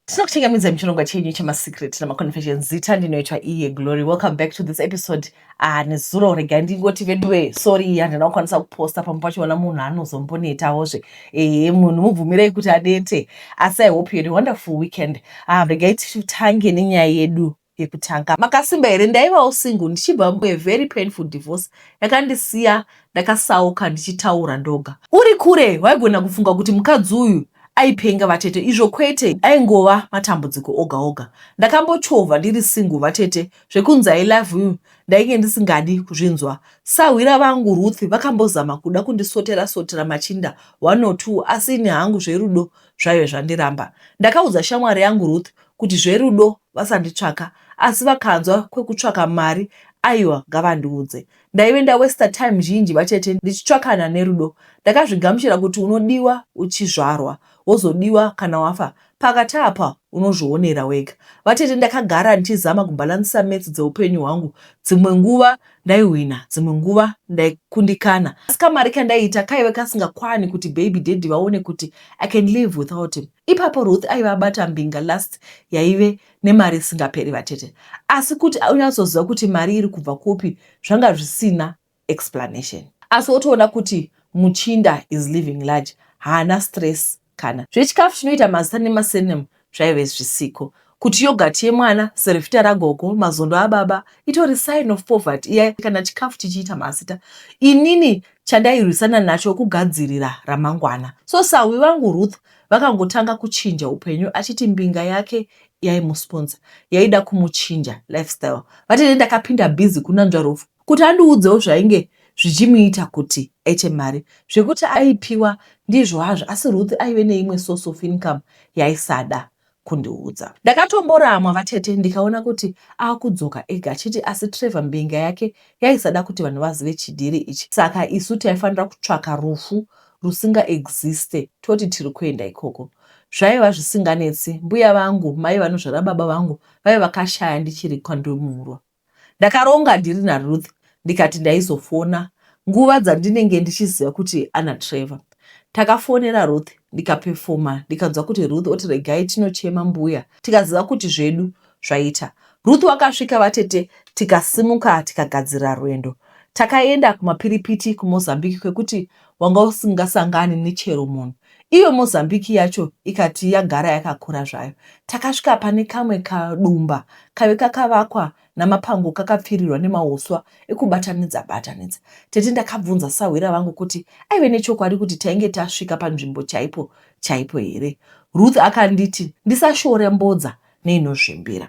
tinokuchengemedza muchirongwa chenyu chemasecret namaconfession zita ndinoitwa iye glory welcome back to this episode ah, nezuro rega ndingoti veduwe sorry iyi handina kukwanisa kuposta pamwe pachiona munhu anozombonetawozve ehe munhu mubvumirei kuti anete asi i hope you had a wonderful weekend ah, regai titange nenyaya yedu yekutanga makasimba here ndaivawo single ndichibva mue very painful divorce yakandisiya ndakasauka ndichitaura ndoga uri kure waigona kufunga kuti mukadzi uyu aipenga vatete izvo kwete aingova matambudziko oga oga ndakambochovha ndiri single vatete zvekunzi i love you ndainge ndisingadi kuzvinzwa sahwira vangu ruth vakambozama kuda kundisotera sotera machinda one or two asi ini hangu zverudo zvaive zvandiramba ndakaudza shamwari yangu ruth kuti zverudo vasanditsvaka asi vakanzwa kwekutsvaka mari aiwa ngavandiudze ndaive ndawester time zhinji vatete ndichitsvakana nerudo ndakazvigamuchira kuti unodiwa uchizvarwa wozodiwa kana wafa pakati apa unozvionera wega vatete ndakagara ndichizama kubhalansisa metsi dzeupenyu hwangu dzimwe nguva ndaihwina dzimwe nguva ndaikundikana asi kamari kandaiita kaive kasingakwani kuti baby daddy vaone kuti i can live without him Ipapo Ruth aiva abata mbinga last yaive nemari isingaperi vatete, asi kuti anyatsoziva kuti mari iri kubva kupi zvanga zvisina explanation. Asi wotoona kuti muchinda is living large, haana stress kana. Zvechikafu chinoita mazita nema surname zvaive zvisiko. Kuti yogurt yemwana, cerevita ragogo, mazondo ababa itori sign of poverty iya kana chikafu chichiita mazita. Inini chandairwisana nacho kugadzirira ramangwana. So sahwi vangu Ruth vakangotanga kuchinja upenyu achiti mbinga yake yaimusponsa yaida kumuchinja lifestyle. Vati ne ndakapinda busy kunanzva Rufu kuti andiudzewo zvainge zvichimuita kuti aite mari. Zvekuti aipiwa ndizvo hazvo asi Ruth aive neimwe source of income yaisada. kundiudza. Ndakatomboramwa vatete ndikaona kuti akudzoka ega achiti asi Trevor mbinga yake yaisada kuti vanhu vazive chidhiri ichi saka isu taifanira kutsvaka rufu rusinga existe toti tiri kuenda ikoko. Zvaiva zvisinganetsi, mbuya vangu mai vanozvara baba vangu vaiva vakashaya ndichiri kwandimurwa. Ndakaronga ndiri naRuth ndikati ndaizofona nguva dzandinenge ndichiziva kuti ana Trevor. Takafonera Ruth ndikapefoma ndikanzwa kuti Ruth oti regai tinochema mbuya tikaziva kuti zvedu zvaita. Ruth wakasvika vatete tikasimuka tikagadzirira rwendo. Takaenda kumapiripiti kuMozambique kwekuti wanga usingasangani nechero munhu. Iyo Mozambique yacho ikati yagara yakakura zvayo. Takasvika pane kamwe kadumba kave kakavakwa namapango kakapfirirwa nemahuswa ekubatanidza batanidza. Tete ndakabvunza sahwira vangu kuti aive nechokwadi kuti tainge tasvika panzvimbo chaipo chaipo here. Ruth akanditi ndisashore mbodza neinozvimbira.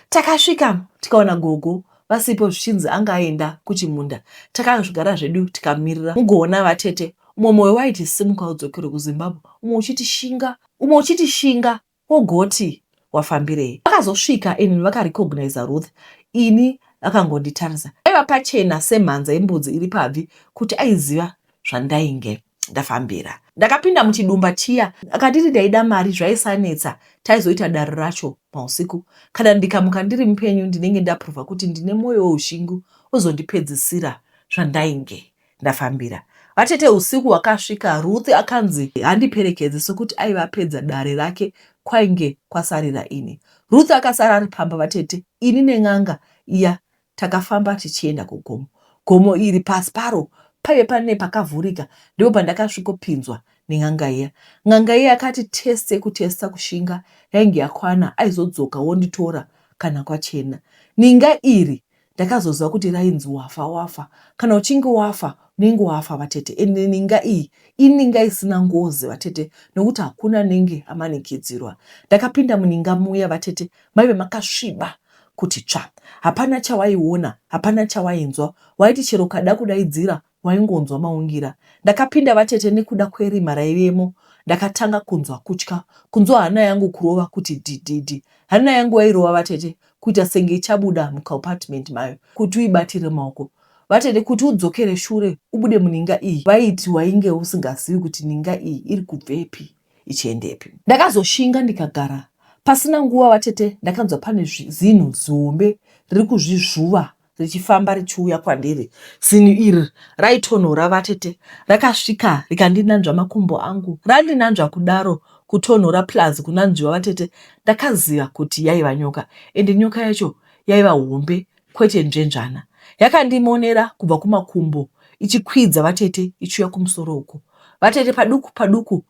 Takasvikamo tikawana gogo vasipo zvichinzi anga aenda kuchimunda. Takazvigara zvedu tikamirira. Mugoona vatete umwe moyo waiti simuka udzokere kuZimbabwe umwe uchiti shinga umwe uchiti shinga wogoti wafambirei. Vakazosvika and vakarecognizer Ruth ini vakangonditarisa. Paiva pachena semhanza yembudzi iri pabvi kuti aiziva zvandainge ndafambira. Ndakapinda muchidumba chiya akatiti ndaida mari zvaisanetsa taizoita dare racho mausiku kana ndikamuka ndiri mupenyu ndinenge ndaprova kuti ndine mwoyo weushingu ozondipedzisira zvandainge ndafambira vatete usiku hwakasvika ruth akanzi handiperekedze sokuti aiva apedza dare rake kwainge kwasarira ini ruth akasara ari pamba vatete ini nen'anga iya Takafamba tichienda kugomo. Gomo iri pasi paro paive pane pakavhurika ndipo pandakasvikopinzwa nen'anga iya. N'anga iya yakati teste kutesta kushinga yainge yakwana aizodzoka wonditora kana kwachena. Ninga iri ndakazoziva kuti rainzi wafa wafa kana uchinge wafa unenge wafa vatete and ninga iyi ininga isina ngozi vatete nokuti hakuna anenge amanikidzirwa. Ndakapinda muninga muya vatete maive makasviba kuti tsva. Hapana chawaiona, hapana chawainzwa, waiti chero ukada kudaidzira waingonzwa maungira. Ndakapinda vatete nekuda kwerima raivemo ndakatanga kunzwa kutya, kunzwa hana yangu kurova kuti dhidhidhi. Hana yangu yairova vatete kuita senge ichabuda mucompartment mayo kuti uibatire maoko. Vatete kuti udzokere shure ubude muninga iyi vaiti wainge usingazivi kuti ninga iyi iri kubvepi. ichiendepi. Ndakazoshinga ndikagara. Pasina nguva vatete ndakanzwa pane zinhu zihombe riri kuzvizvuva richifamba richiuya kwandiri. Zinhu iri raitonhora vatete. Rakasvika rikandinanzva makumbo angu. Randinanzva kudaro kutonhora plus kunanzviwa vatete ndakaziva kuti yaiva nyoka ende nyoka yacho yaiva hombe Kwete nzvenzvana yakandimonera kubva kumakumbo ichikwidza vatete ichiuya kumusoro uko. Vatete paduku paduku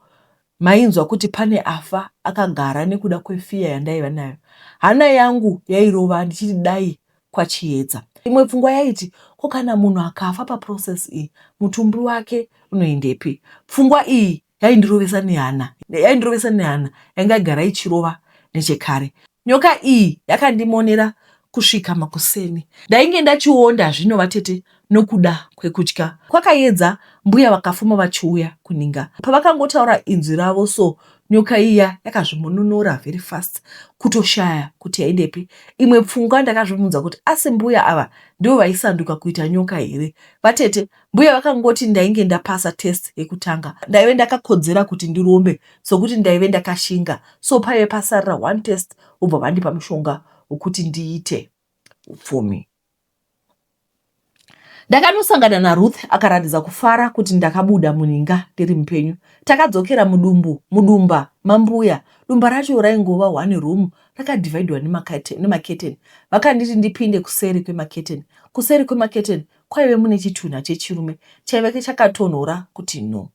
mainzwa kuti pane afa akagara nekuda kwefiya yandaiva nayo. Hana yangu yairova ndichiti dai kwachiedza. Imwe pfungwa yaiti ko kana munhu akafa paprocess iyi mutumbi wake unoendepi? Pfungwa iyi yaindirovesa nehana yaindirovesa nehana yanga yagara ichirova nechekare nyoka iyi yakandimonera kusvika makuseni ndainge ndachionda zvino vatete nokuda kwekutya kwakayedza mbuya vakafuma vachiuya kuninga pavakangotaura inzwi ravo so nyoka iya yakazvimononora very fast kutoshaya kuti yaidepi imwe pfungwa ndakazvibvunza kuti asi mbuya ava ndivo vaisanduka kuita nyoka here vatete Mbuya vakangoti ndainge ndapasa test yekutanga ndaive ndakakodzera kuti ndirombe sokuti ndaive ndakashinga so paive pasarira one test vobva vandipa mushonga wekuti ndiite upfumi. Ndakanosangana naRuth akaratidza kufara kuti ndakabuda muninga ndiri mupenyu. Takadzokera mudumbu mudumba mambuya. Dumba racho raingova one room rakadivhaidwa nemaketeni. Vakanditi ndipinde kuseri kwemaketeni. Kuseri kwemaketeni kwaive mune chitunha chechirume chaive chakatonhora kuti no.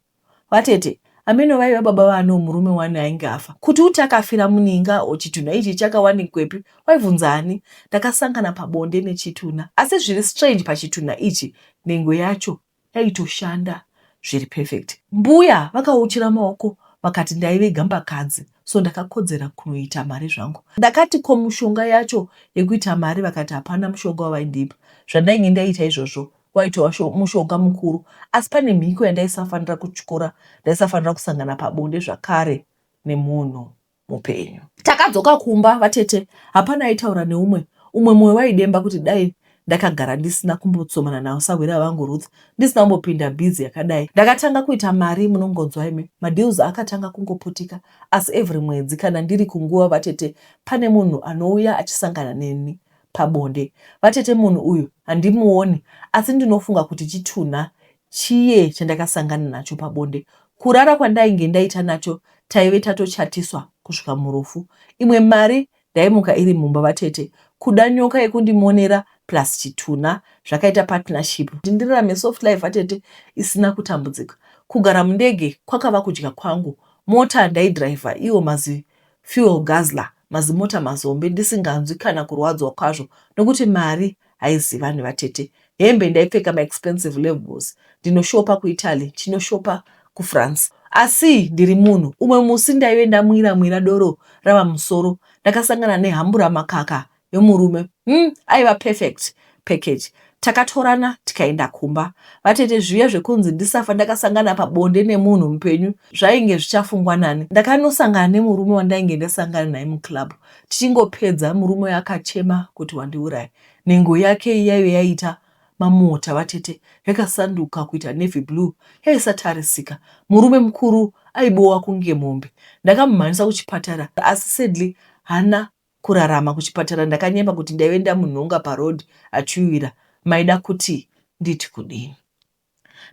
Vatete, ameno vaiva baba vaano murume wani ainge afa, kuti uti akafira muninga or chitunha ichi chakawanikwepi waibvunza ani? Ndakasangana pabonde nechitunha asi zviri strange pachitunha ichi nhengo yacho yaitoshanda zviri perfect. Mbuya vakauchira maoko vakati ndaive gambakadzi so ndakakodzera kunoita mari zvangu. Ndakati ko mushonga yacho yekuita mari vakati hapana mushonga wavaindipa zvandainge ndaita izvozvo waitova mushonga mukuru asi pane mhiko yandaisafanira kutyora ndaisafanira kusangana pabonde zvakare nemunhu mupenyu. Takadzoka kumba vatete hapana aitaura neumwe umwe moyo waidemba kuti dai Ndakagara ndisina kumbotsomana nawo sahwira vangu Ruth ndisina kumbopinda busy yakadai. Ndakatanga kuita mari munongonzwa imi. Madeals akatanga kungoputika asi every mwedzi kana ndiri kunguva vatete pane munhu anouya achisangana neni pabonde. Vatete munhu uyu handimuoni asi ndinofunga kuti chitunha chiye chandakasangana nacho pabonde. Kurara kwandainge ndaita nacho taive tatochatiswa kusvika murufu. Imwe mari Ndaimuka iri mumba vatete kuda nyoka yekundimonera plus chitunha zvakaita partnership kuti ndirarame soft life vatete isina kutambudzika. Kugara mundege kwakava kudya kwangu. Mota ndaidriver iwo mazi fuel guzzler mazimota mazombe ndisinganzwi kana kurwadzwa kwazvo nokuti mari haizi vanhu vatete hembe ndaipfeka maexpensive levels ndinoshopa kuitaly chinoshopa kufrance asi ndiri munhu umwe musi ndaive ndamwira mwira doro rava musoro ndakasangana nehambura makaka yomurume hmm, aiva perfect package takatorana tikaenda kumba vatete zviya zvekunzi ndisafa ndakasangana pabonde nemunhu mupenyu zvainge zvichafungwa nani ndakanosangana nemurume wandainge ndasangana naye muclub tichingopedza murume uyu akachema kuti wandiuraya nhengo yake iyaiyo yaiita mamota vatete yakasanduka kuita navy blue yaisatarisika murume mukuru aibowa kunge mombe ndakamumhanyisa kuchipatara asi sadly hana kurarama kuchipatara ndakanyema kuti ndaive ndamunhonga paroad achiuira maida kuti nditi kudini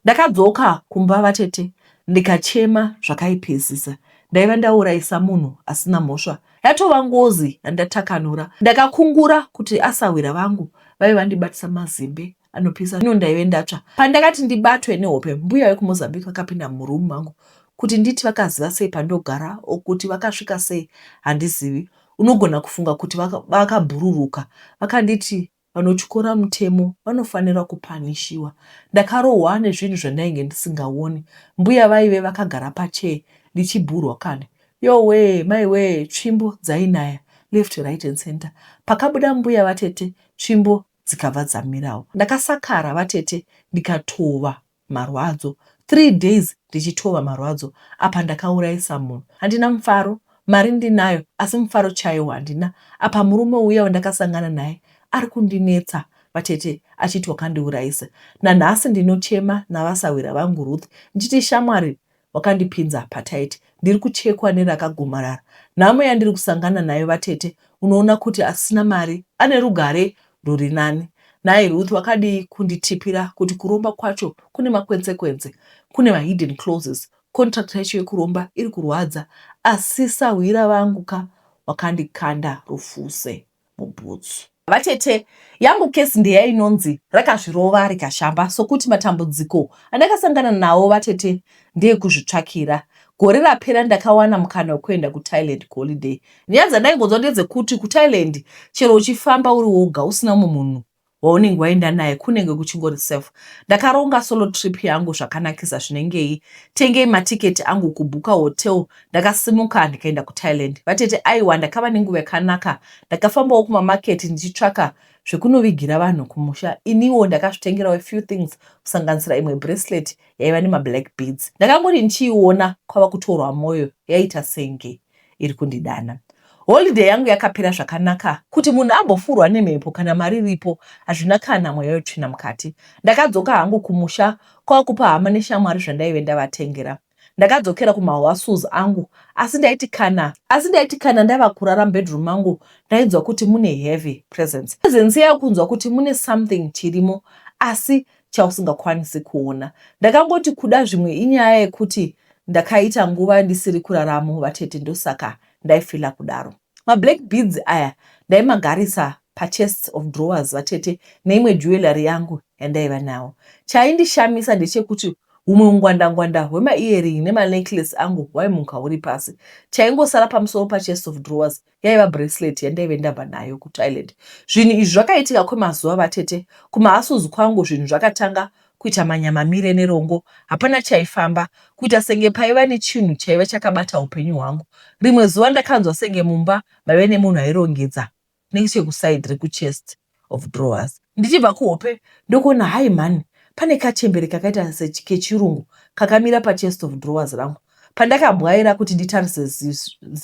Ndakadzoka kumba vatete ndikachema zvakaipesisa. Ndaiva ndauraisa munhu asina mhosva. Yatova ngozi yandatakanura. Ndakakungura kuti asahwira vangu vaive vandibatisa mazimbe anopisa ino ndaive ndatsva. Pandakati ndibatwe nehope mbuya vekuMozambique vakapinda muroom mangu kuti nditi vakaziva sei pandogara or kuti vakasvika sei handizivi. Unogona kufunga kuti vakabhururuka. Vakanditi Vanotyora mutemo vanofanira kupanishiwa. Ndakarohwa nezvinhu zvandainge ndisingaone. Mbuya vaive vakagara pachair ndichibhurwa kani. Yowee maiwee tsvimbo dzainaya left right and center. Pakabuda mbuya vatete tsvimbo dzikabva dzamirawo. Ndakasakara vatete ndikatova. marwadzo three days ndichitova marwadzo apa ndakauraisa munhu handina mufaro mari ndinayo asi mufaro chaiwo handina apa murume uya wandakasangana naye ari kundinetsa vatete achiti wakandiuraisa nanhasi ndinochema navasahwira vangu Ruth ndichiti shamwari wakandipinza hapataiti ndiri kuchekwa neri akagomarara nhamo yandiri kusangana nayo vatete unoona kuti asina mari ane rugare ruri nani nhai ruth wakadii kunditipira kuti kuromba kwacho kune makwensekwense kune mahidden clauses contract yacho yekuromba iri kurwadza asi sahwira vangu ka wakandikanda rufuse mubhutsu. Vatete, yangu case ndeyainonzi rakazvirova rikashamba sokuti matambudziko andakasangana nawo vatete ndeekuzvitsvakira. Gore rapera ndakawana mukana wekuenda kuThailand kuholiday. Nyaya dzandaingonzwa ndedzekuti kuThailand chero uchifamba uri woga usina umwe munhu waunenge waenda naye kunenge kuchingori safe ndakaronga solo trip yangu zvakanakisa zvinengei tengei maticket angu kubhuka hotel ndakasimuka ndikaenda kuthailand vatete aiwa ndakava nenguva yakanaka ndakafambawo kumamarket ndichitsvaka zvekunovigira vanhu kumusha iniwo ndakazvitengerawo a few things kusanganisira imwe bracelet yaiva nemablack beads ndakangori ndichiiona kwava kutorwa mwoyo yaita senge iri kundidana. Holiday yangu yakapera zvakanaka, kuti munhu ambofurwa nemhepo kana mari iripo hazvina kana mweya wetsvina mukati. Ndakadzoka hangu kumusha kwakupa hama neshamwari zvandaive ndavatengera. Ndakadzokera kumahoasus angu asi ndaiti kana asi ndaiti kana ndava kurara mubedroom mangu ndainzwa kuti mune heavy presence. Presence yakunzwa kuti mune something chirimo asi chausingakwanisi kuona. Ndakangoti kuda zvimwe inyaya yekuti ndakaita nguva ndisiri kuraramo vatete ndosaka ndaifila kudaro. Mablack beads aya ndaimagarisa pachests of drawers vatete neimwe jewellery yangu yandaiva nawo. Chaindishamisa ndechekuti humwe ungwandangwanda hwemaearing nemanecklace angu hwaimuka huri pasi. Chaingosara pamusoro pachests of drawers yaiva bracelet yandaive ndabva nayo kuthailand zvinhu izvi zvakaitika kwemazuva vatete kumahasuzi kwangu zvinhu zvakatanga kuita manyamamire nerongo hapana chaifamba kuita senge paiva nechinhu chaiva chakabata upenyu hwangu rimwe zuva ndakanzwa senge mumba maive nemunhu airongedza nechekusaid rekuchest of drawers. Ndichibva kuhope ndokuona hai mhani pane kachembere kakaita kechirungu kakamira pachest of drawers rangu. Pandakabwaira kuti nditarise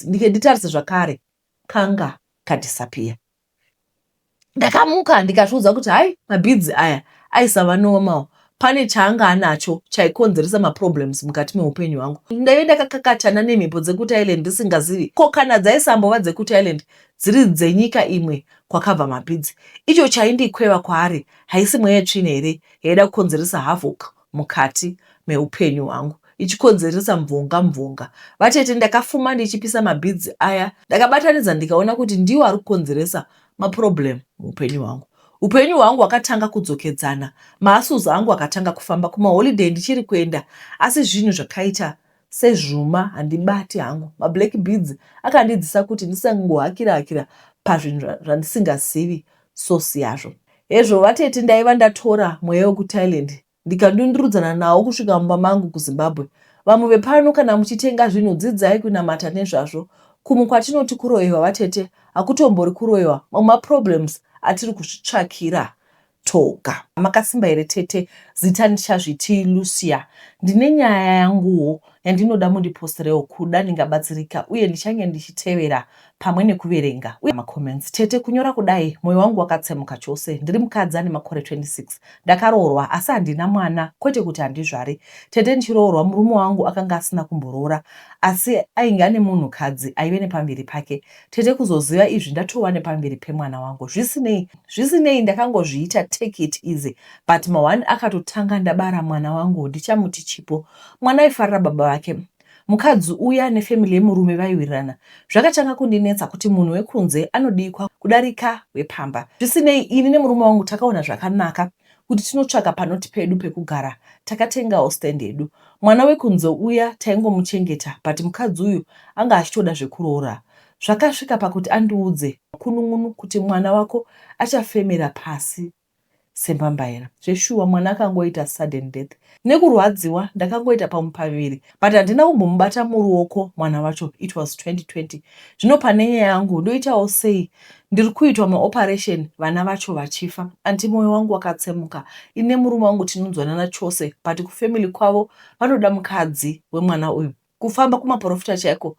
nditarise zvakare kanga kadhisapiya. Ndakamuka ndikazviudza kuti hai mabhidzi aya aisava normal pane chaanga anacho chaikonzeresa maproblems mukati meupenyu hwangu ndaive ndakakakatana nemhepo dzekuti island ndisingazivi ko kana dzaisambova dzekuti island dziri dzenyika imwe kwakabva mapidzi icho chaindikweva kwaari haisi mweya tsvina here yaida kukonzeresa havoc mukati meupenyu hwangu ichikonzeresa mvonga mvonga vatete ndakafuma ndichipisa mabhidzi aya ndakabatanidza ndikaona kuti ndiwo ari kukonzeresa maproblem muupenyu hwangu Upenyu hwangu hwakatanga kudzokedzana, maasles angu akatanga kufamba, kumaholiday ndichiri kuenda asi zvinhu zvakaita sezvuma handibati hangu. Mablack beads akandidzisa kuti ndisangohakira hakira pazvinhu zvandisingazivi source yazvo. Hezvo vatete ndaiva ndatora mweya wekuThailand ndikadundurudzana nawo kusvika mumba mangu kuZimbabwe. Vamwe vepano kana muchitenga zvinhu dzidzai kunamata nezvazvo. Kumwe kwatinoti kuroyewa vatete hakutombori kuroyewa mamwe maproblems atiri kuzvitsvakira toga. Makasimba here tete zita ndichazviti Lucia. Ndine nyaya yanguwo yandinoda mundiposterewo kuda ndingabatsirika uye ndichange ndichitevera pamwe nekuverenga uye macomments tete kunyora kudai moyo wangu wakatsemuka chose ndiri mukadzi ane makore 26 ndakaroorwa asi handina mwana kwete kuti handizvari tete ndichiroorwa murume wangu akanga asina kumboroora asi ainge ane munhu kadzi aive nepamviri pake tete kuzoziva izvi ndatova nepamviri pemwana wangu zvisinei zvisinei ndakangozviita take it easy but mahwani akatotanga ndabara mwana wangu ndichamuti chipo mwana aifarira baba vake Mukadzi uya nefamily yemurume vaiwirirana. Zvakatanga kundinetsa kuti munhu wekunze anodikwa kudarika wepamba. Zvisinei, ini nemurume wangu takaona zvakanaka kuti tinotsvaka panoti pedu pekugara. Takatengawo stand yedu. Mwana wekunze uya taingomuchengeta but mukadzi uyu anga achitoda zvekuroora. Zvakasvika pakuti andiudze makunun'unu kuti mwana wako achafemera pasi. sembambaira zveshuwa mwana akangoita sudden death nekurwadziwa ndakangoita pamwe paviri but handina kumbomubata muruoko mwana wacho it was 2020 zvino pane nyaya yangu ndoitawo sei ndiri kuitwa maoperation vana vacho vachifa anti mwoyo wangu wakatsemuka ine murume wangu tinonzwanana chose but kufamily kwavo vanoda mukadzi wemwana uyu Kufamba kumaporofita chaiko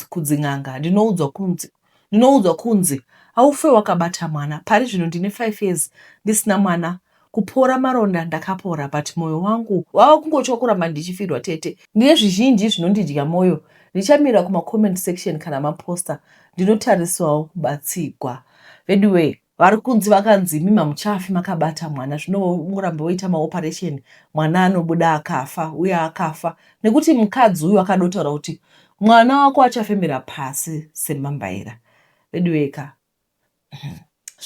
kudzin'anga ndinoudzwa kunzi ndinoudzwa kunzi aufe wakabata mwana pari zvino ndine five years ndisina mwana kupora maronda ndakapora but moyo wangu wava kungotya kuramba ndichifirwa tete ndine zvizhinji zvinondidya moyo ndichamira kumacomment section kana maposter ndinotariswawo kubatsigwa veduwee vari kunzi vakanzi imi mamuchafi makabata mwana zvino muramba woita maoperation mwana anobuda akafa uye akafa nekuti mukadzi uyu akadotaura kuti mwana wako achafemera pasi semambaira veduweka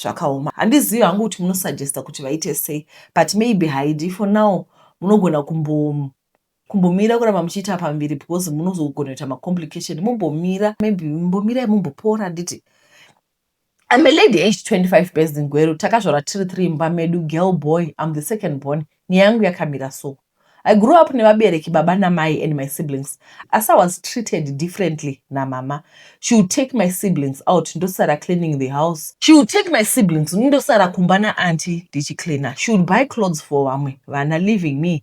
zvakaoma handizivi hangu kuti munosuggesta kuti vaite sei but maybe haidi for now munogona kumbo kumbomira kuramba muchiita pambiri because munozogona kuita macomplication mumbomira maybe mumbomirai mumbopora handiti I'm a lady aged 25 based in Gweru. Takazvarwa tiri three imba medu, girl boy, I'm the second born. Nyaya yangu yakamira so. I grew up nevabereki baba namai and my siblings. Asi I was treated differently namama. She would take my siblings out ndosara cleaning the house. She would take my siblings ndosara kumba naanti ndichicleaner. She would buy clothes for vamwe vana leaving me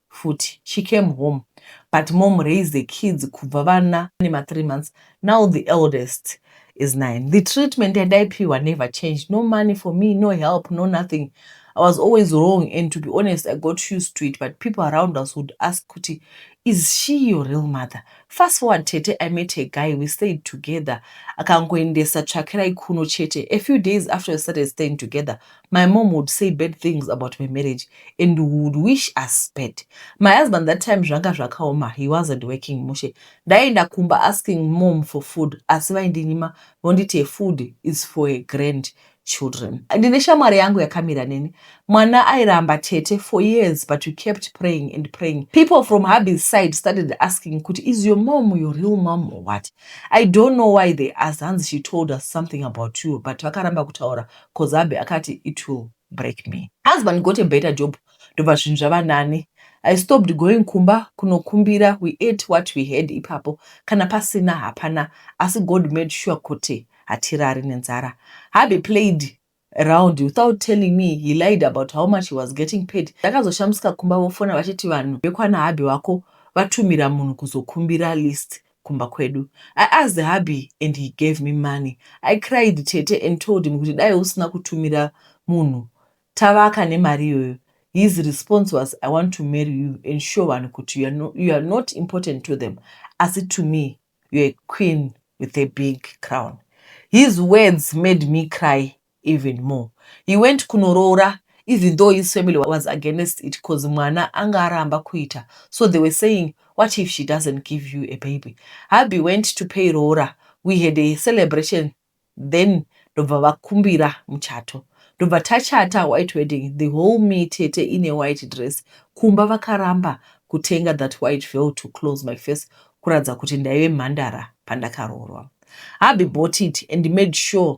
futi she came home but mom raised the kids kubva vana ne ma three months now the eldest is nine the treatment yandaipiwa never changed no money for me no help no nothing i was always wrong and to be honest i got used to it but people around us would ask kuti is she your real mother fast forward tete i met a guy we stayed together akangoendesa tsvakirai kuno chete a few days after we started staying together My mom would say bad things about my marriage and would wish us bad. My husband that time zvanga zvakaoma, he wasn't working mushe. Ndaienda kumba asking mom for food, asi vaindinyima vonditi a food is for a grand children. Ndine shamwari yangu yakamira neni. Mwana airamba tete for years but we kept praying and praying. People from hubby's side started asking kuti is your mom your real mom or what? I don't know why they asked hanzi she told us something about you but vakaramba kutaura coz hubby akati it will break me. Husband got a better job ndobva zvinhu zvava nani. I stopped going kumba kunokumbira we ate what we had ipapo kana pasina hapana asi God made sure kuti hatirari nenzara. Hubby played around without telling me he lied about how much he was getting paid. Ndakazoshamisika kumba vofona vachiti vanhu vekwana hubby wako vatumira munhu kuzokumbira list kumba kwedu. I asked hubby and he gave me money. I cried tete and told him kuti dai usina kutumira munhu tavaka nemari iyoyo. His response was I want to marry you and show vanhu kuti you are, no, you are not important to them asi to me you are a queen with a big crown. His words made me cry even more he went kunoroora even though his family was against it coz mwana anga aramba kuita so they were saying what if she doesn't give you a baby hubby went to pay roora we had a celebration then ndobva vakumbira muchato ndobva tachata white wedding the whole me tete in a white dress kumba vakaramba kutenga that white veil to close my face kuratidza kuti ndaive mhandara pandakaroorwa hubby bought it and made sure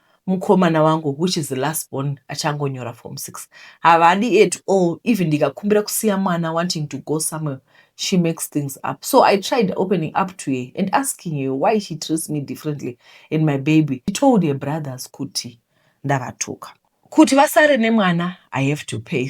mukomana wangu which is the last born achangonyora form six havadi at all even ndikakumbira kusiya mwana wanting to go somewhere she makes things up so i tried opening up to her and asking her why she treats me differently and my baby she told her brothers kuti ndavatuka kuti vasare nemwana i have to pay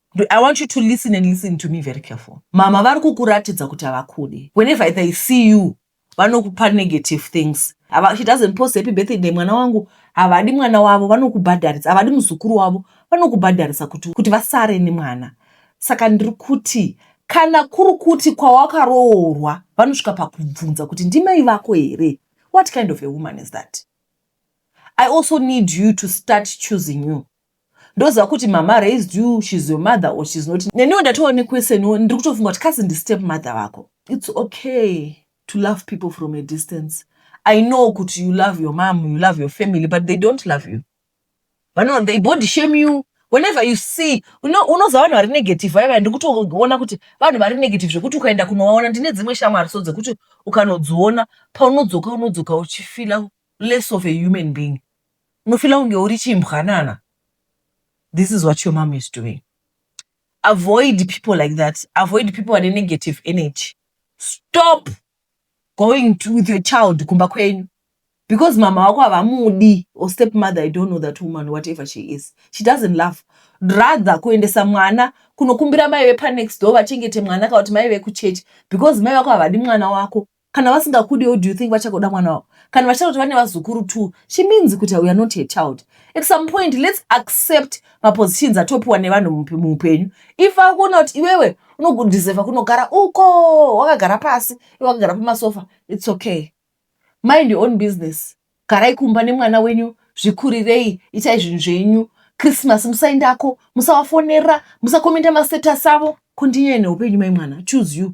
I want you to listen and listen to me very careful. Mama vari kukuratidza kuti havakude. Whenever they see you, vanokupa negative things. Ava, she doesn't post happy birthday day mwana wangu. Havadi mwana wavo, vanokubhadharisa. Havadi muzukuru wavo, vanokubhadharisa kuti, kuti vasare nemwana. Saka ndiri kuti kana kuri kuti kwawakaroorwa vanosvika pakubvunza kuti ndimai vako here? What kind of a woman is that? I also need you to start choosing you. ndoziva kuti mama raised you she's your mother or she's not neniwo ndatova nequestioniwo ndiri kutofunga kuti kasi ndistep mother vako its okay to love people from a distance i know kuti you love your mom you love your family but they don't love you vano they body shame you whenever you see unoza vanhu vari negative vaya vaya ndikutoona kuti vanhu vari negative zvekuti ukaenda kunovaona ndine dzimwe shamwari so dzekuti ukanodziona paunodzoka unodzoka uchifila less of a human being unofila kunge uri chimbwanana this is what your mom is doing avoid people like that avoid people vane negative energy stop going to, with your child kumba kwenyu because mama wako havamudi or step mother i don't know that woman whatever she is she doesn't love rather kuendesa mwana kunokumbira mai vepanext door vachengete mwana kana kuti mai vekuchechi because mai vako havadi mwana wako kana vasingakudiwo do you think vachakoda mwana wavo kana vachitoti vane vazukuru two she means kuti uare not her child at some point let's accept mapositions atopiwa nevanhu muupenyu if akuona kuti iwewe unodeserva kunogara uko wakagara pasi iwe wakagara pamasofa its okay mind your own business garai kumba nemwana wenyu zvikurirei itai zvinhu zvenyu krismas musaendako musawafonera musakomenda mastatus avo kondinyenehupenyu mai mwana choose you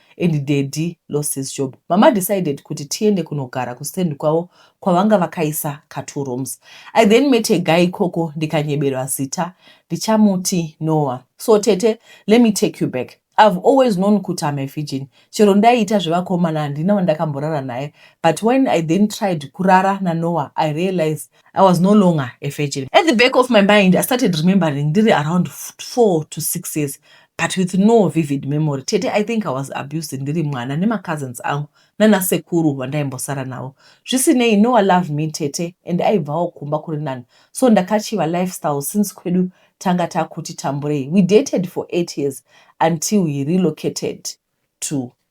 and daddy lost his job mama decided kuti tiende kunogara kustand kwavo kwavanga vakaisa ka two rooms i then met a guy ikoko ndikanyeberwa zita ndichamuti noah so tete let me take you back i've always known kuti am a virgin chero ndaiita zvevakomana handina wandakamborara naye but when i then tried kurara nanoah i realized I was no longer a virgin. At the back of my mind, I started remembering ndiri around four to six years but with no vivid memory tete i think i was abused ndiri mwana nemacousins angu nanasekuru vandaimbosara navo zvisinei noa love me tete and aibvawo kumba kuri nani so ndakachiva lifestyle since kwedu tanga takuti tamburei we dated for eight years until he relocated to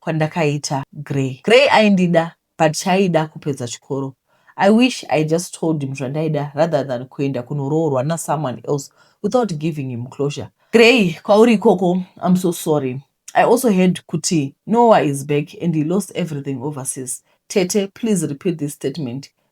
kwandakaita Grey. Grey aindida but chaaida kupedza chikoro. I wish I just told him zvandaida rather than kuenda kunoroorwa nasomeone else without giving him closure. Grey, kwauri ikoko I'm so sorry. I also heard kuti Noah is back and he lost everything overseas. Tete, please repeat this statement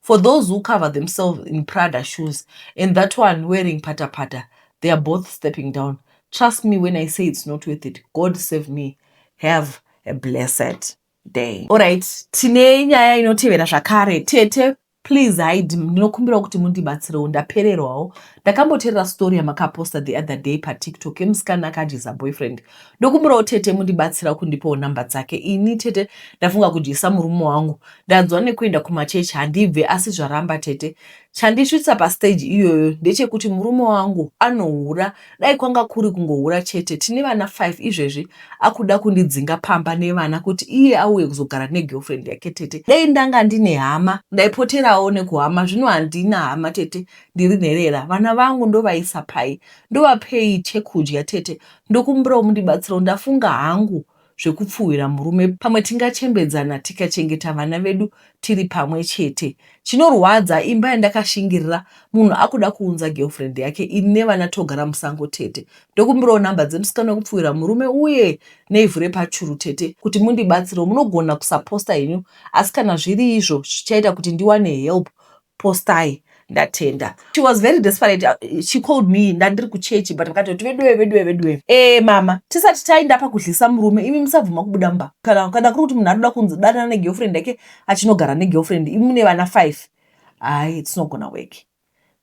For those who cover themselves in Prada shoes and that one wearing pata pata, they are both stepping down. Trust me when I say it's not worth it. God save me. Have a blessed day. All right, tine nyaya inotevera zvakare. Tete, please hide. Ndinokumbirawo kuti mundibatsirewo ndapererwawo. Ndakamboterera story yamakaposta the other day paTikTok yemusikana akadyiza boyfriend. Ndokumbirawo tete mundibatsira kundipawo number dzake ini tete ndafunga kudyisa murume wangu ndanzwa nekuenda kumachechi handibve asi zvaramba tete chandisvitsa pastage iyoyo ndechekuti murume wangu anohura dai kwanga kuri kungohura chete tine vana 5 izvezvi akuda kundidzinga pamba nevana kuti iye auye kuzogara negirlfriend yake tete dai ndanga ndine hama ndaipoterawo nekuhama zvino handina hama tete ndiri nherera vana vangu ndovaisa pai ndovapei chekudya tete Ndokumbirawo mundibatsirewo ndafunga hangu zvekupfuhwira murume pamwe tingachembedzana tikachengeta vana vedu tiri pamwe chete. Chinorwadza imba yandakashingirira munhu akuda kuunza girlfriend yake ini nevana togara musango tete. Ndokumbirawo number dzemusikana wekupfuhwira murume uye neivhu repachuru tete kuti mundibatsirewo. Munogona kusaposta henyu asi kana zviri izvo zvichaita kuti ndiwane help. postai ndatenda she was very desperate uh, she called me ndandiri kuchechi but vakatoti veduwe veduwe veduwe e mama tisati taenda pakudlisa murume imi musabvuma kubuda mba kana kana kuri kuti munhu anoda kunzi danana negirlfriend yake achinogara negirlfriend imi mune vana five hayi it's not gonna work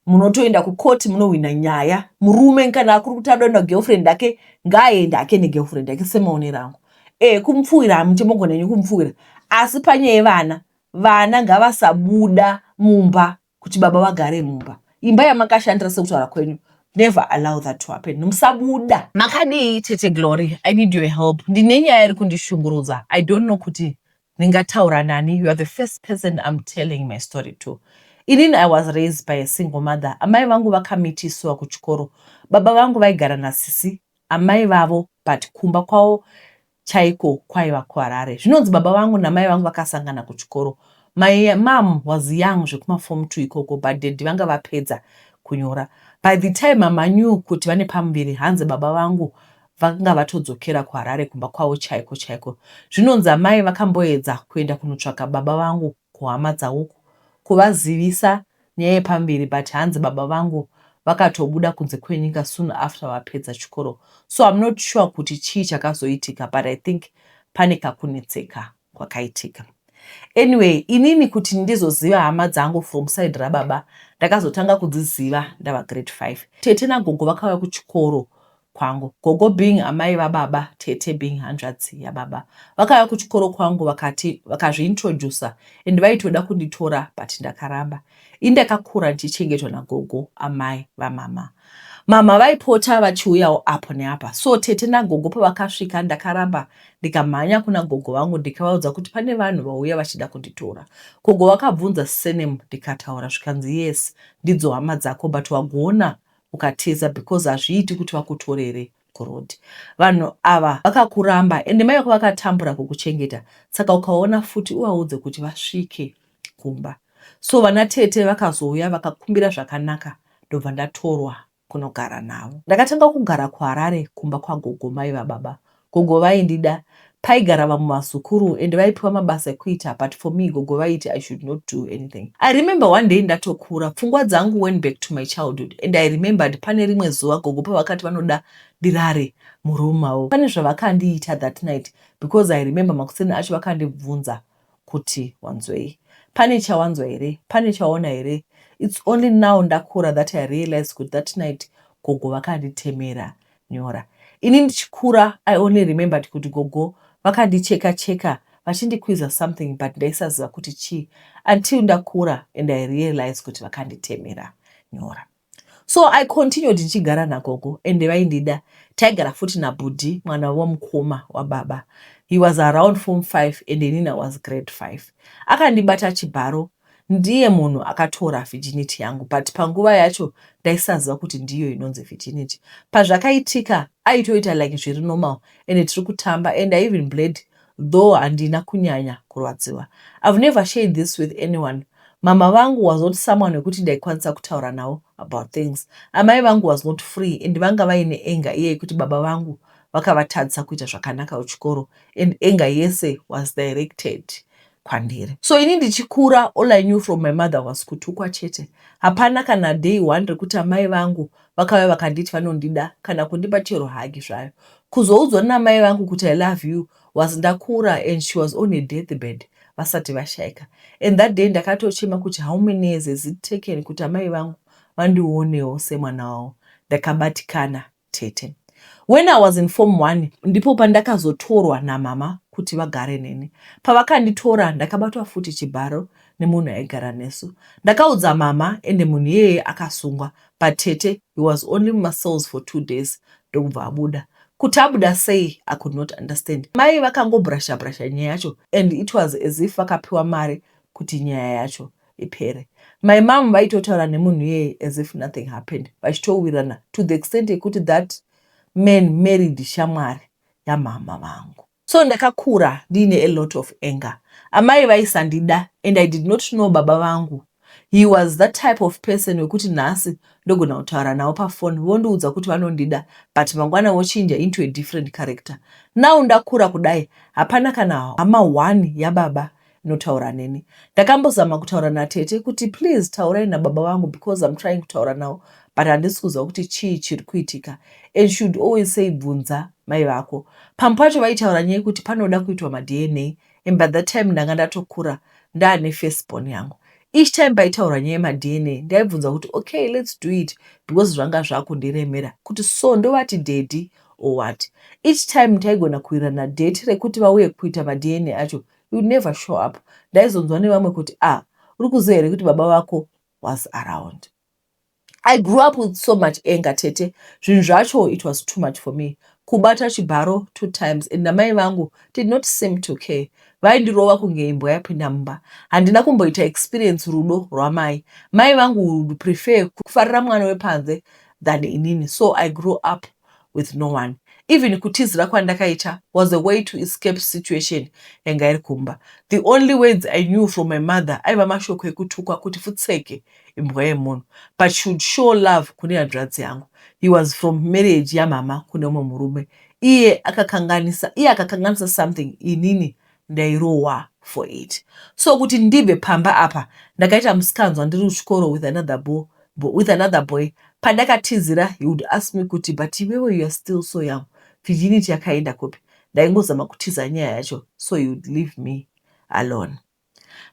munotoenda kukoti munohwina nyaya murume kana akuri kuti adoenda girlfriend yake ngaaende ake negirlfriend yake semaonero angu e kumupfuwira hamuti mogona nyu kumupfuwira asi panyaya yevana Vana ngavasabuda mumba kuti baba vagare mumba. Imba yamakashandira sekutaura kwenyu never allow that to happen. Musabuda. Makadii tete Glory I need your help ndine nyaya iri kundishungurudza I don't know kuti ndingataura nani you are the first person I'm telling my story to inini I was raised by a single mother amai vangu vakamitisiwa kuchikoro baba vangu vaigara nasisi amai vavo but kumba kwavo chaiko kwaiva kuHarare. Zvinonzi baba vangu namai vangu vakasangana kuchikoro. My mom was young zvekuma form two ikoko but daddy vanga vapedza kunyora. By the time mama knew kuti vane pamuviri hanzi baba vangu vanga vatodzokera kuHarare kumba kwavo chaiko chaiko. Zvinonzi amai vakamboedza kuenda kunotsvaka baba vangu kuhama dzauku kuvazivisa nyaya yepamberi but hanzi baba vangu vakatobuda kunze kwenyika soon after vapedza chikoro so I'm not sure kuti chii chakazoitika but I think pane kakunetseka kwakaitika. Anyway inini kuti ndizoziva hama dzangu from side rababa ndakazotanga kudziziva ndava grade 5. Tete nagogo vakauya kuchikoro kwangu. Gogo being amai vababa, tete being hanzvadzi yababa vakauya kuchikoro kwangu vakati vakazviintroducer and vaitoda kunditora but ndakaramba. Ini ndakakura ndichichengetwa nagogo amai vamhamha. Mhamha vaipota vachiuyawo apo neapa so tete nagogo pavakasvika ndakaramba ndikamhanya kuna gogo vangu ndikavaudza kuti pane vanhu vauya vachida kunditora. Gogo vakabvunza surname ndikataura zvikanzi yes ndidzo hama dzako but wagoona ukatiza because hazviiti kuti vakutorere kuroad vanhu ava vakakuramba ende mai vako vakatambura kukuchengeta saka ukaona futi uvaudze kuti vasvike kumba so vana tete vakazouya vakakumbira zvakanaka ndobva ndatorwa kunogara navo ndakatanga kugara kuharare kumba kwagogo mai vababa Gogo vaindida paigara vamwe vazukuru and vaipiwa mabasa ekuita but for me gogo vaiti I should not do anything. I remember one day ndatokura pfungwa dzangu went back to my childhood and I remembered pane rimwe zuva gogo pavakati vanoda ndirare muroom mavo pane zvavakandiita that night because I remember makuseni acho vakandibvunza kuti wanzwei pane chawanzwa here pane chaona here its only now ndakura that i realized kuti that night gogo vakanditemera nyora ini ndichikura i only remembered kuti gogo vakandicheka cheka vachindikwiza something but ndaisaziva kuti chii until ndakura and i realized kuti vakanditemera nyora So I continued ndichigara nagogo and vaindida. Taigara futi nabhudhi mwana wavo mukoma wababa. He was around form 5 and inini I was grade 5. Akandibata chibharo ndiye munhu akatora virginity yangu but panguva yacho ndaisaziva kuti ndiyo inonzi virginity. Pazvakaitika aitoita like zviri normal and tiri kutamba and I even bled though handina kunyanya kurwadziwa I've never shared this with anyone mhamha vangu was not someone wekuti ndaikwanisa kutaura navo about things amai vangu was not free and vanga vaine anger iye yekuti baba vangu vakavatadzisa kuita zvakanaka kuchikoro and anger yese was directed kwandiri so ini ndichikura all i knew from my mother was kutukwa chete hapana kana day one rekuti amai vangu vakauya vakanditi vanondida kana kundipa chero hagi zvayo kuzoudzwa namai vangu kuti i love you was ndakura and she was on a death bed vasati vashaika and that day ndakatochema kuti how many years has it taken kuti amai vangu vandionewo semwana wavo ndakabatikana tete when i was in form one ndipo pandakazotorwa namama kuti vagare neni pavakanditora ndakabatwa futi chibharo nemunhu aigara nesu ndakaudza mama ende munhu iyeye akasungwa but tete he was only mumacells for two days ndokubva abuda kuti abuda sei i could not understand mai vakangobrasha brasha nyaya yacho and it was as if vakapiwa mari kuti nyaya yacho ipere my mom vaitotaura nemunhu iyeye as if nothing happened vachitowirana to the extent yekuti that man married shamwari yamama vangu So ndakakura ndiine a lot of anger. Amai vaisandida and I did not know baba vangu. He was that type of person wekuti nhasi ndogona kutaura navo paphone vondiudza kuti vanondida but mangwana vochinja into a different character. Now ndakura kudai hapana kana hama one yababa notaura neni ndakambozama kutaura natete kuti please taurai nababa vangu because im trying kutaura navo but handisi kuziva kuti chii chiri kuitika and should always say bvunza mai vako pamwe pacho vaitaura nyaya kuti panoda kuitwa madna and by that time ndanga ndatokura ndaane firstborn yangu each time paitaurwa nyaya yemadna ndaibvunza kuti okay let's do it because zvanga zvakundiremera kuti so ndovati daddy or what each time taigona kuwirana date rekuti vauye kuita madna acho you never show up ndaizonzwa nevamwe kuti a ah, uri kuziva here kuti baba vako was around i grew up with so much anger tete zvinhu zvacho it was too much for me kubata chibharo two times and namai vangu did not seem to care vaindirova kunge imbwa yapinda mumba handina kumboita experience rudo rwamai mai vangu would prefer kufarira mwana wepanze than inini so i grew up with no one even kutizira kwandakaita was a way to escape situation yanga iri kumba the only words i knew from my mother aiva mashoko ekutukwa kuti futseke imbwa yemunhu but she would show love kune hanzvadzi yangu he was from marriage yamama kune umwe murume iye akakanganisa iye akakanganisa something inini ndairohwa for it so kuti ndibve pamba apa ndakaita musikanzwa ndiri kuchikoro with another bo, bo, with another boy pandakatizira he would ask me kuti but iwewe you are still so young virginity yakaenda kupi ndaingozama kutiza nyaya yacho so he would leave me alone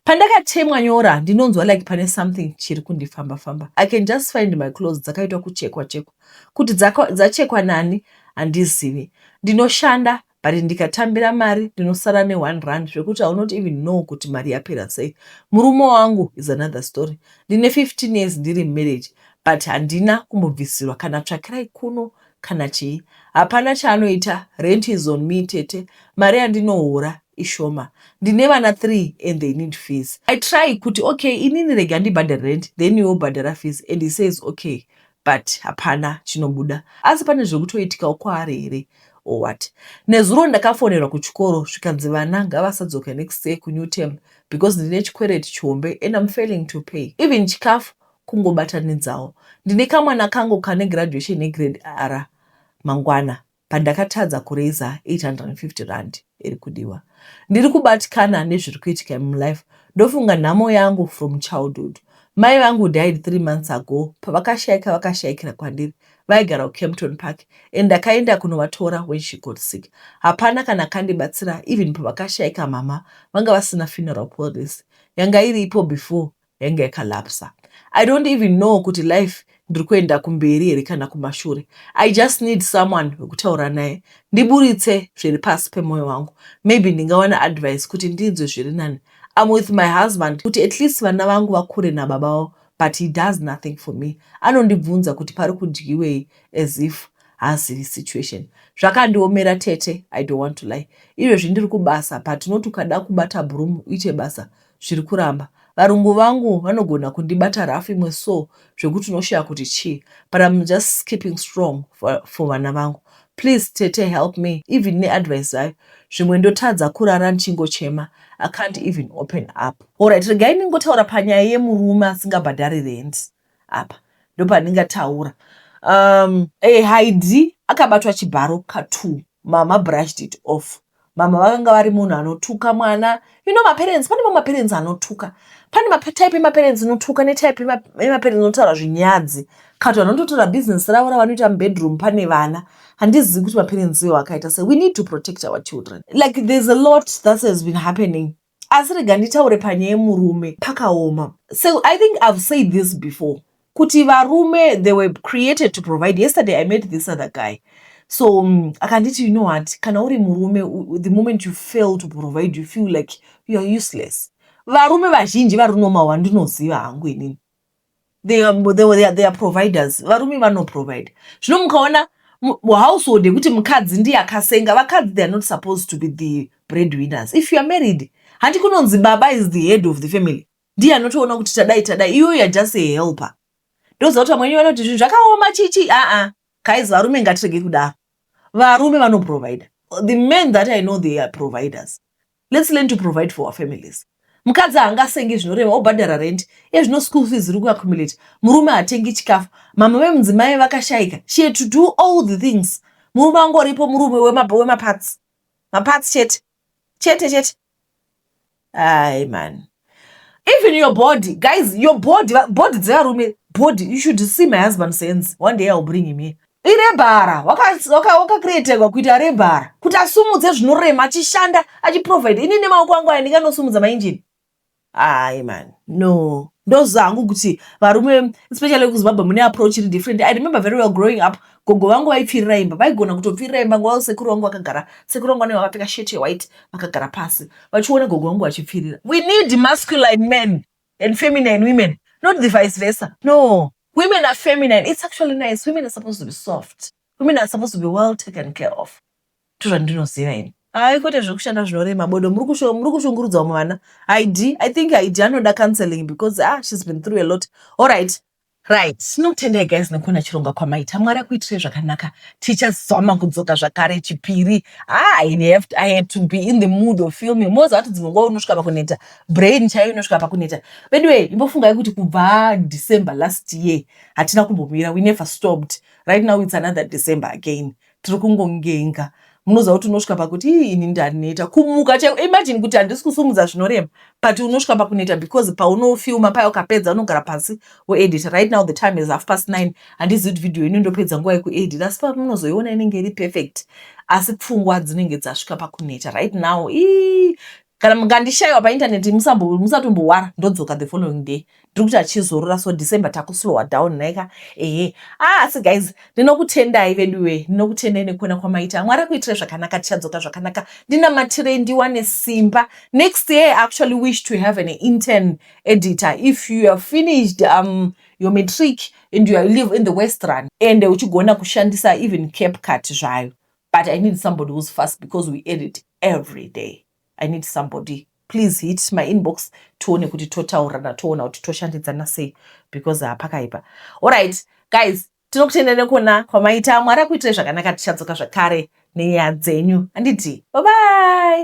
pandakatemwa nyora ndinonzwa like pane something chiri kundifamba famba i can just find my clothes dzakaitwa kuchekwa chekwa kuti dzachekwa nani handizivi ndinoshanda but ndikatambira mari ndinosara ne one rand zvekuti i will not even know kuti mari yapera sei. Murume wangu is another story, ndine 15 years ndiri mumarriage but handina kumbobvisirwa kana tsvakirai kuno kana chii. Hapana chaanoita, rent is on me tete, mari yandinohora ishoma ndine vana three and they need fees. I try kuti okay inini rega ndibhadhare rent then iwe ubhadhara fees and he says okay but hapana chinobuda asi pane zvekutoitikawo kwaari here or what nezuro ndakafonerwa kuchikoro zvikanzi vana ngavasadzoke next year kunew term because ndine chikwereti chihombe and am failing to pay even chikafu kungobatanidzawo ndine kamwana kangu kane graduation yegrade r mangwana Pandakatadza kuraiser 850 rand iri kudiwa. Ndiri kubatikana nezviri kuitika imi mulife. Ndofunga nhamo yangu from childhood. Mai vangu died three months ago pavakashaika vakashaikira kwandiri vaigara kucampton park and ndakaenda kunovatora when she got sick hapana kana akandibatsira even pavakashaika mhamha vanga vasina funeral policy yanga iripo before yanga yakalapsa i don't even know kuti life ndiri kuenda kumberi here kana kumashure i just need someone wekutaura naye ndiburitse zviri pasi pemwoyo wangu maybe ndingawana advice kuti ndinzwe zviri nani am with my husband kuti at least vana vangu vakure nababa vavo but he does nothing for me anondibvunza kuti pari kudyiwei as if haazivi situation zvakandiomera tete i don't want to lie izvezvi ndiri kubasa but unoti ukada kubata broom uite basa zviri kuramba. Varungu vangu vanogona kundibata rough imwe so zvekuti unoshaya kuti chii but I'm just keeping strong for, for vana vangu. Please tete help me even neadvice zvayo zvimwe ndotadza kurara ndichingochema I can't even open up. Alright regai ndingotaura panyaya yemurume asingabhadhari rent apa ndopandingataura um, eh, Haidhi akabatwa chibharo ka two mama brushed it off mama vakanga vari munhu anotuka mwana you know maparents pane mamwe maparents anotuka pane matype emaparents inotuka netype emaparents inotaura zvinyadzi kati vanhu vanototora business ravo ravanoita mubedroom pane vana handizivi kuti maparents iwo akaita se we need to protect our children like there's a lot that has been happening asi rega nditaure panyaya yemurume pakaoma so i think i've said this before kuti varume they were created to provide yesterday i met this other guy so um, akanditi you know what kana uri murume the moment you fail to provide you feel like youare useless varume vazhinji vari normal wandinoziva hangu inini they are, they are, they are providers varume vanoprovide zvino mukaona household yekuti mukadzi ndiye akasenga vakadzi they are not supposed to be the breadwinners if you are married handi kunonzi baba is the head of the family ndiye anotoona kuti tadai tadai iwe youare just a helper ndoziva kuti vamweni vanoti zvinhu zvakaoma chichi aa guys varume ngatirege kudaro varume vanoprovida the men that i know they are providers Let's learn to provide for our families. Mukadzi haangasenge zvinorema obhadhara rent ezvino school fees iri kuaccumulate murume hatengi chikafu mama vemudzimai vakashaika she had to do all the things murume angoripo murume wemaparts maparts chete chete chete ai mani even your body guys your body body dzevarume body you should see my husband sense one day ill bring him here irebhara wakacreategwa kuita rebhara kuti asumudze zvinorema achishanda achiprovide ini nemaoko angu aya ndinganosumudza mainjini ai man no ndoziva hangu kuti varume especially kuzimbabwe mune approach iri different i remember very well growing up gogo vangu vaipfirira imba vaigona kutopfirira imba nguva sekuru vangu vakagara sekuru vangu vanenge vakapfeka shirt yewhite vakagara pasi vachiona gogo vangu vachipfirira we need masculine men and feminine women not the vice versa no women are feminine it's actually nice women are supposed to be soft women are supposed to be well taken care of to zvandinoziva ini hayi kwete zvekushanda zvinorema bodo muri kushungurudza vamwe vana id i think id anoda counseling because ah she's been through a lot all right Right, tinotenda guys nekuona chirongwa kwamaita. Mwari akuitirei zvakanaka. Tichazama kudzoka zvakare chipiri. Ah, I have, I had to be in the mood of filming. Moza wati dzimwe nguva unosvika pakuneta. Brain chaiyo inosvika pakuneta. By the way, imbofungai kuti kubva December last year hatina kumbomira. We never stopped. Right now it's another December again. tiri kungongenga munoziva kuti unosvika pakuti ii ini ndaneta kumuka chaiko imagine kuti handisi kusumudza zvinorema but unosvika pakuneta because paunofilma paya ukapedza unogara pasi woedita right now the time is half past nine handizivi kuti vhidhiyo ino ndopedza nguva yekuedita asi pamunozoiona inenge iri perfect asi pfungwa dzinenge dzasvika pakuneta right now ii kana mukandishaiwa paintaneti musatombowara ndodzoka the following day ndiri kuti achizorora so december takuslowa down naika ehe ah, asi guys ndinokutendai veduwe ndinokutendai nekuona kwamaita mwari akuitire zvakanaka tichadzoka zvakanaka ndinamatirei ndiwane simba next year actually wish to have an intern editor if you are finished um, your matric and you are live in the west run ende uchigona kushandisa even cap cut zvayo but i need somebody who's fast because we edit every day i need somebody please hit my inbox tione kuti totaurirana toona kuti toshandidzana sei because hapakaipa allright guys tinokutenda nekuona kwamaita mwari akuitai zvakanaka tichadzoka zvakare nenyaya dzenyu handiti babai